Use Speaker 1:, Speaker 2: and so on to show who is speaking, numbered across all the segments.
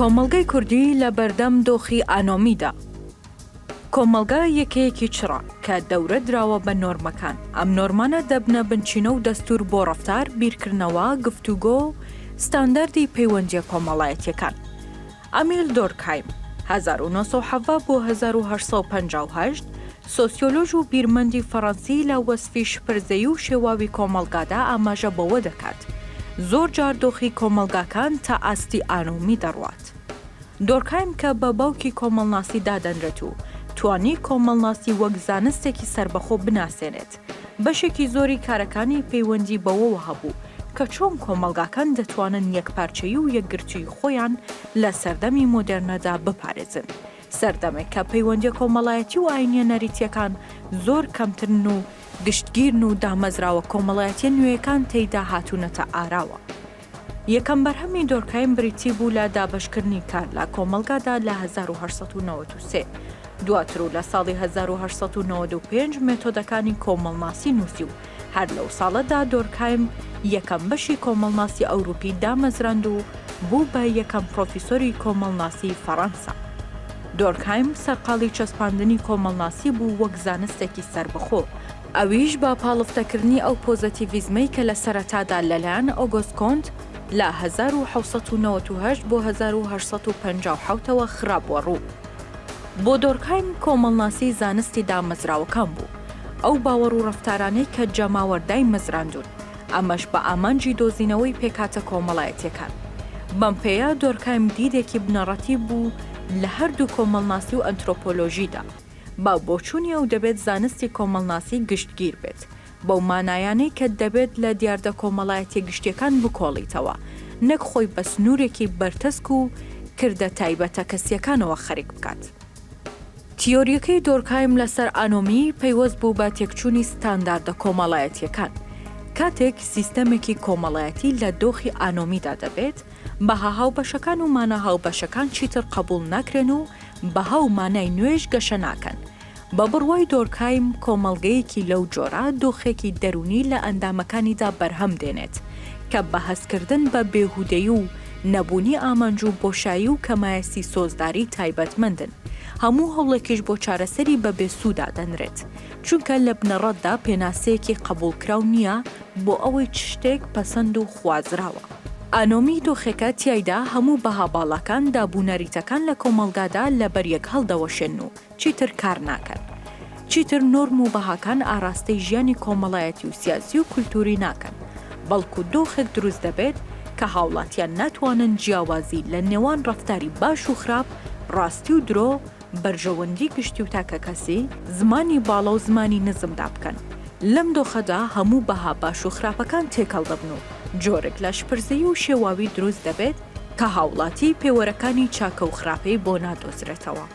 Speaker 1: کۆمەڵگەی کوردی لە بەردەم دۆخی ئانۆمیدا. کۆمەڵگا یەکەیەکی چڕە کە دەورە دراوە بە نۆرمەکان ئەم نۆرمانە دەبنە بنچینە و دەستور بۆ ڕفتار بیرکردنەوە گفتوگۆ و ستانداردی پەیوەندیە کۆمەڵایەتیەکان ئەمیل دۆرکهایم، هەزار و نۆ سەد و حەڤدە بۆ هەزار و هەشت سەد و پەنجا و هەشت، سۆسیۆلۆژ و بیرمەندی فەڕەنسی لە وەسفی شپرزەیی و شێواوی کۆمەڵگادا ئاماژە بەوە دەکات، زۆر جار دۆخی کۆمەڵگاکان تا ئاستی ئانومی دەڕوات. دۆرکهایم کە بە باوکی کۆمەڵناسی دادەنرێت و توانی کۆمەڵناسی وەک زانستێکی سەربەخۆ بناسێنێت، بەشێکی زۆری کارەکانی پەیوەندی بەوەوە هەبوو کە چۆن کۆمەڵگاکان دەتوانن یەکپارچەیی و یەکگرتووی خۆیان لە سەردەمی مۆدێرنەدا بپارێزن، سەردەمێک کە پەیوەندیە کۆمەڵایەتی و ئاینیە نەریتیەکان زۆر کەمترن و گشتگیرن و دامەزراوە کۆمەڵایەتیە نوێیەکان تێیدا هاتوونەتە ئاراوە. یەکەم بەرهەمی دۆرکایم بریتی بوو لە دابەشکردنی کار لە کۆمەڵگادا لە هەزار و هەشت سەد و نەوەد و سێ. دواتر و لە ساڵی هەزار و هەشت سەد و نەوەد و پێنج مێتۆدەکانی کۆمەڵناسی نووسی و هەر لەو ساڵەدا دۆرکایم یەکەم بەشی کۆمەڵناسی ئەوروپی دامەزراند و بوو بە یەکەم پڕۆفیسۆری کۆمەڵناسی فەڕەنسا. دۆرکایم سەرقاڵی چەسپاندنی کۆمەڵناسی بوو وەک زانستێکی سەربەخۆ، ئەویش بە پاڵفتەکردنی ئەو پۆزەتیڤیزمەی کە لە سەرەتادا لەلایەن ئۆگۆست کۆنت لە هەزار و حەوت سەد و نەوەد و هەشت بۆ هەزار و هەشت سەد و پەنجا و حەوت ەوە خرابووە ڕوو. بۆ دۆرکهایم کۆمەڵناسی زانستی دامەزراوەکان بوو، ئەو باوەڕ و ڕەفتارانەی کە جەماوەر دایمەزراندوون، ئەمەش بە ئامانجی دۆزینەوەی پێکهاتە کۆمەڵایەتییەکان. بەم پێیە دۆرکهایم دیدێکی بنەڕەتی بوو لە هەردوو کۆمەڵناسی و ئەنترۆپۆلۆژیدا. با بۆچوونی ئەو دەبێت زانستی کۆمەڵناسی گشتگیر بێت، بەو مانایانەی کە دەبێت لە دیاردە کۆمەڵایەتیە گشتیەکان بکۆڵیتەوە، نەک خۆی بە سنوورێکی بەرتەسک و کردە تایبەتە کەسیەکانەوە خەریک بکات. تیۆریەکەی دۆرکهایم لەسەر ئانۆمی پەیوەست بوو بە تێکچوونی ستانداردە کۆمەڵایەتیەکان، کاتێک سیستەمێکی کۆمەڵایەتی لە دۆخی ئانۆمیدا دەبێت، بەها هاوبەشەکان و مانا هاوبەشەکان چیتر قەبووڵ ناکرێن و بەها و مانای نوێش گەشە ناکەن. بە بڕوای دۆرکایم کۆمەڵگەیەکی لەو جۆرە دۆخێکی دەروونی لە ئەندامەکانیدا بەرهەم دێنێت کە بە هەستکردن بە بێهودەیی و نەبوونی ئامانج و بۆشایی و کەمایەسی سۆزداری تایبەتمەندن هەموو هەوڵێکیش بۆ چارەسەری بە بێسوو دادەنرێت چونکە لە بنەڕەتدا پێناسەیەکی قەبووڵکراو نییە بۆ ئەوەی چ شتێک پەسەند و خوازراوە. ئانۆمی دۆخێکە تیایدا هەموو بەها باڵاکان، داب و نەریتەکان لە کۆمەڵگادا لە بەریەک هەڵدەوەشێن و چیتر کار ناکەن. چیتر نۆرم و بەهاکان ئاراستەی ژیانی کۆمەڵایەتی و سیاسی و کولتووری ناکەن، بەڵکو دۆخێک دروست دەبێت کە هاوڵاتیان ناتوانن جیاوازی لە نێوان ڕەفتاری باش و خراپ، ڕاستی و درۆ، بەرژەوەندی گشتی و تاکەکەسی، زمانی باڵا و زمانی نزمدا بکەن. لەم دۆخەدا هەموو بەها باش و خراپەکان تێکەڵ دەبن و جۆرێک لاشپرزەیی و شێواوی دروست دەبێت کە هاوڵاتی پێوەرەکانی چاکە و خراپەی بۆ نادۆزرێتەوە.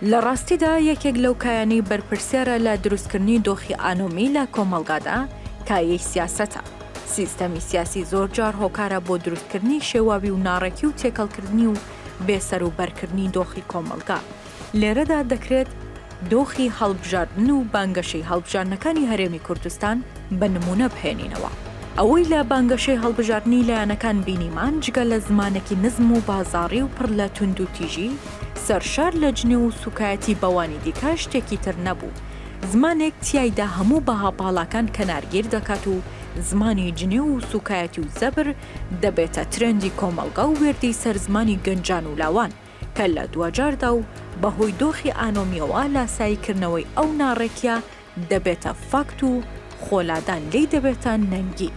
Speaker 1: لە ڕاستیدا یەکێک لەو کایانەی بەرپرسیارە لە دروستکردنی دۆخی ئانۆمی لە کۆمەڵگادا، کایەی سیاسەتە. سیستەمی سیاسی زۆرجار هۆکارە بۆ دروستکردنی شێواوی و ناڕێکی و تێکەڵکردنی و، بێسەروبەرکردنی دۆخی کۆمەڵگا. لێرەدا دەکرێت دۆخی هەڵبژاردن و بانگەشەی هەڵبژاردنەکانی هەرێمی کوردستان بە نموونە بهێنینەوە. ئەوەی لە بانگەشەی هەڵبژاردنی لایەنەکان بینیمان جگە لە زمانێکی نزم و بازاڕی و پڕ لە توندوتیژی سەرشار لە جنێو و سووکایەتی بەوانی دیکە شتێکی تر نەبوو. زمانێک تیایدا هەموو بەها باڵاکان کەنارگیر دەکات و زمانی جنێو و سووکایەتی و زەبر دەبێتە ترێندی کۆمەڵگا و وێردی سەر زمانی گەنجان و لاوان، کە لە دواجاردا و بە هۆی دۆخی ئانۆمییەوە لاسایی کردنەوەی ئەو ناڕێکییە دەبێتە فاکت و خۆ لادان لێی دەبێتە نەنگی.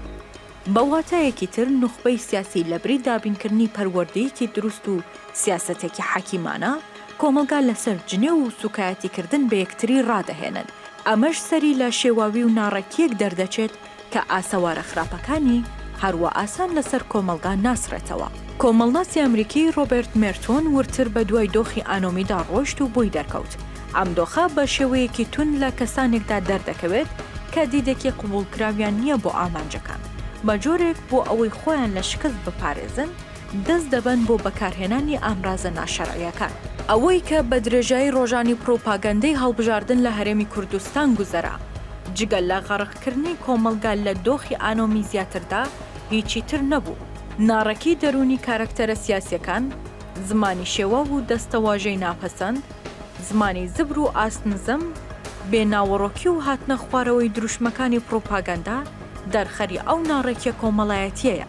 Speaker 1: بە واتایەکی تر نوخبەی سیاسی لە بری دابین کردنی پەروەردەیەکی دروست و سیاسەتێکی حەکیمانە، کۆمەڵگا لە سەر جنێو و سوکایەتی کردن بە یەکتری ڕادەهێنن، ئەمەش سەری لە شێواوی و ناڕێکییەک دەردەچێت کە ئاسەوارە خراپەکانی هەروا ئاسان لەسەر کۆمەڵگا ناسڕێتەوە. کۆمەڵناسی ئەمریکی ڕۆبێرت مێرتۆن وردتر بە دوای دۆخی ئانۆمیدا ڕۆشت و بۆی دەرکەوت ئەم دۆخە بە شێوەیەکی توند لە کەسانێکدا دەردەکەوێت کە دیدێکی قبوڵکراویان نییە بۆ ئامانجەکان بە جۆرێک بۆ ئەوەی خۆیان لە شکست بپارێزن دەست دەبەن بۆ بەکارهێنانی ئامرازە ناشەرعیەکان. ئەوەی کە بە درێژایی ڕۆژانی پڕوپاگەندەی هەڵبژاردن لە هەرێمی کوردستان گوزەرا، جگە لە غەڕق کردنی کۆمەڵگا لە دۆخی ئانۆمی زیاتردا هیچی تر نەبوو. ناڕێکی دەروونی کارەکتەرە سیاسیەکان، زمانی شێواو و دەستەواژەی ناپەسەند، زمانی زبر و ئاست نزم، بێ ناوەڕۆکی و هاتنە خوارەوەی دروشمەکانی پڕوپاگەندە، دەرخەری ئەو ناڕێکیە کۆمەڵایەتیەیە.